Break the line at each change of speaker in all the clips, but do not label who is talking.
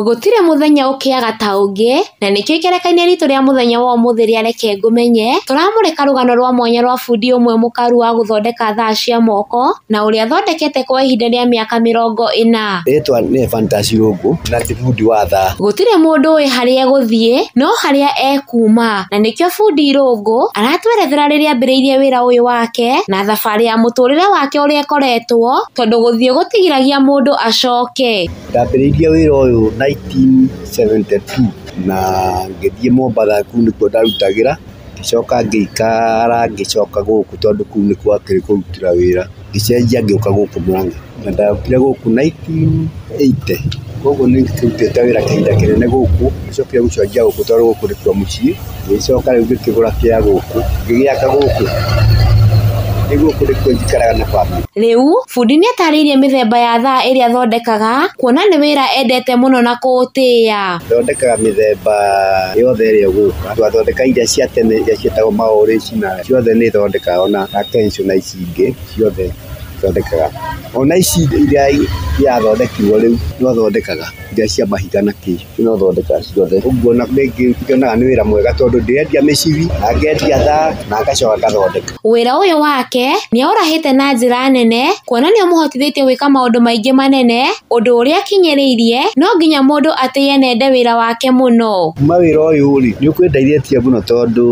Gũtirĩ mũthenya ũkĩaga ta ũngĩ, na nĩkĩo ikerekainĩ ritũ rĩa mũthenya wa ũmũthĩ rĩa Reke Ngũmenye, tũramũrĩka rũgano rwa mwanya rwa bundi ũmwe mũkaru wa gũthondeka thaa cia moko, na ũrĩa athondekete kwa ihinda rĩa mĩaka mĩrongo ĩna. Rĩtwa nĩ Ephantus
Irũngũ, na ndĩ bundi wa thaa. Gũtirĩ mũndũ ũĩ
harĩa egũthiĩ, no harĩa ekuma. Na nĩkĩo bundi Irũngũ, aratwerethera rĩrĩa ambĩrĩirie wĩra ũyũ wake, na thabarĩ ya mũtũrĩre wake ũrĩa ĩkoretwo, tondũ gũthiĩ gũtigiragia mũndũ acoke. Ndambĩrĩirie wĩra
ũyũ nineteen seventy two na ngĩthiĩ Mombatha kũu nĩkuo ndarutagĩra, ngĩcoka ngĩikara ngĩcoka gũkũ tondũ kũu nĩkuo hakĩrĩ kũrutĩra wĩra, ngĩcenjia ngĩũka gũkũ Mũrang'a. Na ndokire gũkũ nineteen eighty, kũguo nĩ ndutĩte wĩra kahinda kanene gũkũ, ngĩcokire gũcenjia gũkũ tondũ gũkũ nĩkuo mũciĩ. ngĩgĩcoka rĩu ngĩkĩgũra kĩa gũkũ ngĩgĩaka gũkũ, rĩu gũkũ nĩkuo njikaraga
na bamĩrĩ. Rĩu bundi nĩ atarĩirie mĩthemba ya thaa ĩrĩa athondekaga kuona nĩ wĩra endete mũno na kũũtĩa. Thondekaga mĩthemba
yothe ĩrĩa ĩgũka, twathondeka iria cia tene iria cietagwo ma original ciothe nĩ thondekaga ona Akenso na ici ingĩ ciothe thondekaga, ona ici iria irathondekirwo rĩu no thondekaga iria cia mahiga na kĩ. Rĩu no thondeka ciothe. Ũguo na rĩngĩ ngĩonaga nĩ wĩra mwega tondũ ndĩrendia mĩcibi na ngendia thaa na ngacoka ngathondeka. Wĩra ũyũ wake
nĩ aũrahĩte na njĩra nene kuona nĩ ũmũhotithĩtie gwĩka maũndũ maingĩ manene ũndũ ũrĩa akinyĩrĩirie no nginya mũndũ atĩye nende wĩra wake mũno. Kuma wĩra ũyũ rĩ,
nĩ ũkũndeithĩtie mũno tondũ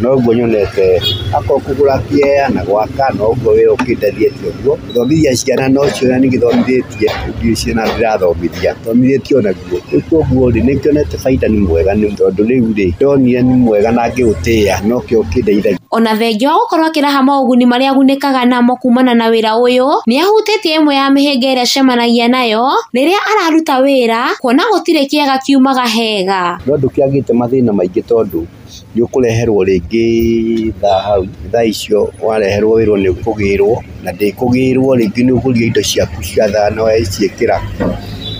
noguo nyonete akorwo kũgũra kĩea na gwaka noguo wĩra ũkĩndeithĩtie ũguo. Gũthomithia ciana no ciũria nĩ ngĩthomithĩtie ndiũĩ ciana ndĩrathomithia, thomithĩtie o naguo. Rĩu kwoguo rĩ, nĩ ngĩonete bainda nĩ mwega nĩ tondũ rĩu rĩ, ndonire nĩ mwega na ngĩũtĩa nokĩo kĩndeithagia. Ona thengia wa gũkorwo
akĩraha moguni marĩa agunĩkaga namo kumana na wĩra ũyũ, nĩ ahutĩtie ĩmwe ya mĩhĩnga ĩrĩa acemanagia nayo rĩrĩa araruta wĩra, kuona gũtirĩ kĩega kiumaga hega. No ndũkĩagĩte
mathĩna maingĩ tondũ. nĩ ũkũreherwo rĩngĩ thaa hau, thaa icio wareherwo wĩrwo nĩ ũkũgĩrwo, na ndĩkũgĩrwo rĩngĩ nĩ ũgũria indo ciaku cia thaa na waciĩkĩra,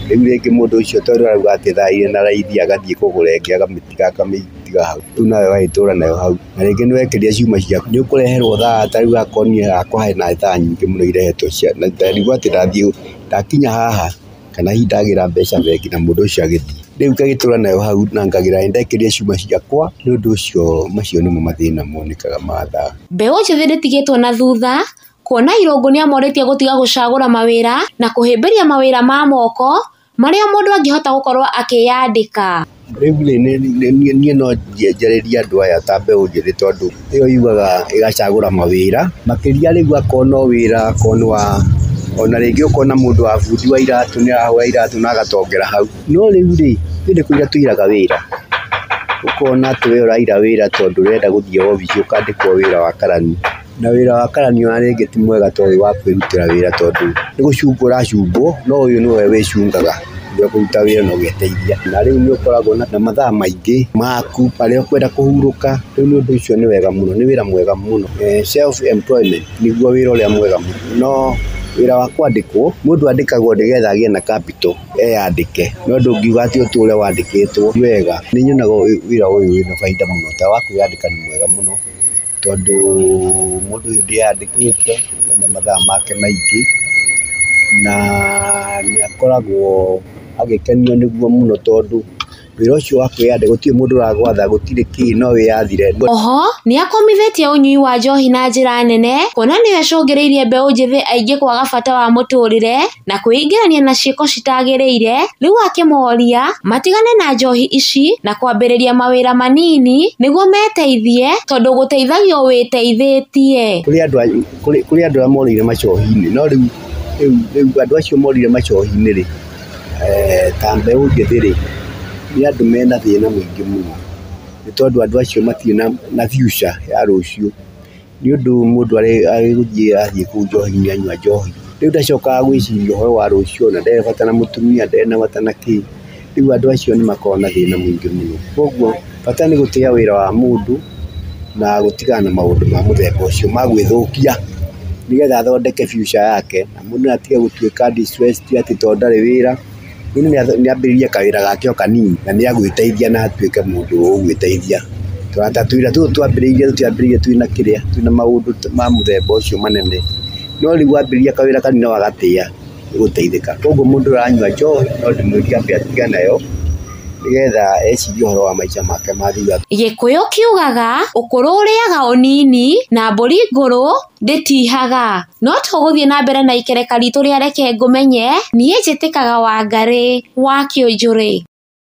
rĩu rĩngĩ mũndũ ũcio tondũ arauga atĩ thaa irĩ na raithi agathiĩ kũgũra ĩngĩ akamĩtiga akamĩtiga hau, rĩu nawe ũgagĩtũra nayo hau, na rĩngĩ nĩ wekĩrire ciuma ciaku, nĩ ũkũreherwo thaa ta rĩu akorwo niĩ hakwa hena thaa nyingĩ mũno irehetwo cia na ndarigwo atĩ ndathiĩ ndakinya haha. kana hihi ndagĩra mbeca bengi na mũndũ ũcio agĩthiĩ. Rĩu ngagĩtũra nayo hau na ngagĩra nĩ ndekĩrire cuma ciakwa, nĩ ũndũ ũcio macio nĩmo mathĩna monekaga ma thaa. Mbeũ njĩthĩ ndĩtigĩtwo
na thutha, kuona irũngũ nĩ amorĩtie gũtiga gũcagũra mawĩra na kũhĩmbĩria mawĩra ma moko marĩa mũndũ angĩhota gũkorwo akĩyandĩka. Rĩu rĩ
niĩ no njarĩrie andũ aya ta mbeũ njĩthĩ tondũ ĩyo yugaga ĩgacagũra mawĩra, makĩria rĩu akorwo no wĩra akorwo nĩ wa, ona rĩngĩ okorwo nĩ mũndũ wa bundi wa iratũ nĩ arahũra iratũ na agatongera hau. No rĩu rĩ, ithuĩ nĩ kũira tũiraga wĩra, ũkona atĩ we ũraira wĩra tondũ ũrenda gũthiĩ obici ũkandĩkwo wĩra wa karani. Na wĩra wa karani ona rĩngĩ ti mwega ta ũyũ wa kwĩrutĩra wĩra tondũ nĩ gũcungwo ũracungwo no ũyũ nĩwe wĩcungaga ũrĩa ũkũruta wĩra na ũgeteithia. Na rĩu nĩ ũkoragwo na mathaa maingĩ maku marĩa ũkwenda kũhurũka, rĩu nĩ ũndũ ũcio nĩ wega mũno, nĩ wĩra mwega mũno. Self employment nĩguo wĩra ũrĩa mwega mũno, no wĩra wa kwandĩkwo, mũndũ andĩkagwo nĩ getha agĩe na capital eyandĩke, no ndũngiuga atĩ ũtũre wandĩkĩtwo ti wega. Nĩ nyonaga wĩra ũyũ wĩna bainda mũno ta wa kwĩyandĩka nĩ mwega mũno. tondũ mũndũ ũyũ ndĩandĩkĩte na mathaa make maingĩ, na nĩ akoragwo agĩkenio nĩguo mũno tondũ wĩra ũcio wa kwĩyandĩkithia gũtirĩ mũndũ ũragwatha gũtirĩ kĩĩ no wĩyathire. Oho nĩ
akomithĩtie ũnyui wa njohi na njĩra nene kuona nĩyo ĩcũngĩrĩirie mbeũ njĩthĩ aingĩ kwaga bata wa mũtũrĩre. na kwĩingĩrania na ciĩko citagĩrĩire, rĩu akĩmoria matigane na njohi ici na kwambĩrĩria mawĩra manini nĩguo meteithie tondũ gũteithagio wĩteithĩtie. Kũrĩ andũ kũrĩ kũrĩ andũ arĩa morĩire macohi-inĩ no rĩu rĩu rĩu andũ acio morĩire macohi-inĩ rĩ, eh, ta mbeũ njĩthĩ rĩ, nĩ andũ mena thĩna mũingĩ mũno, nĩ tondũ andũ acio matirĩ na na future ya rũciũ. nĩ ũndũ mũndũ agĩgũthiĩ athiĩ kũu njohi-inĩ anyua njohi, rĩu ndacokaga gwĩciria ũhoro wa rũciũ ona ndarĩ bata na mũtumia, ndarĩ na bata na kĩ, rĩu andũ acio nĩ makoragwo na thĩna mũingĩ mũno. Koguo bata nĩ gũtĩa wĩra wa mũndũ na gũtigana na maũndũ ma mũthemba ũcio ma gwĩthũkia, nĩgetha athondeke future yake na mũndũ atige gũtuĩka destressed atĩ tondũ ndarĩ wĩra. Mũndũ nĩ ambĩrĩrie kawĩra gake o kanini na nĩ agwĩteithia na atuĩke mũndũ ũgwĩteithia. Tũrata tũrĩa twambĩrĩirie tũtiambĩrĩirie twĩ na kĩrĩa, twĩ na maũndũ ma mũthemba ũcio manene. No rĩu wambĩrĩria kawĩra kanini na wagatĩa nĩ
ũgũteithĩka. Koguo mũndũ ũyũ ũranyua njohi no ndĩmwĩrire ambe atige nayo nĩ getha ecirie ũhoro wa maica make ma thutha. Gĩkũyũ kiugaga,
Ũkũrũ ũrĩaga ũnini na mbũri ngũrũ. Ndĩtihaga. No tũgũthiĩ na mbere na ikereka ritũ rĩa Reke Ngũmenye, Niĩ Njĩtĩkaga Wangarĩ wa Kĩũnjũrĩ.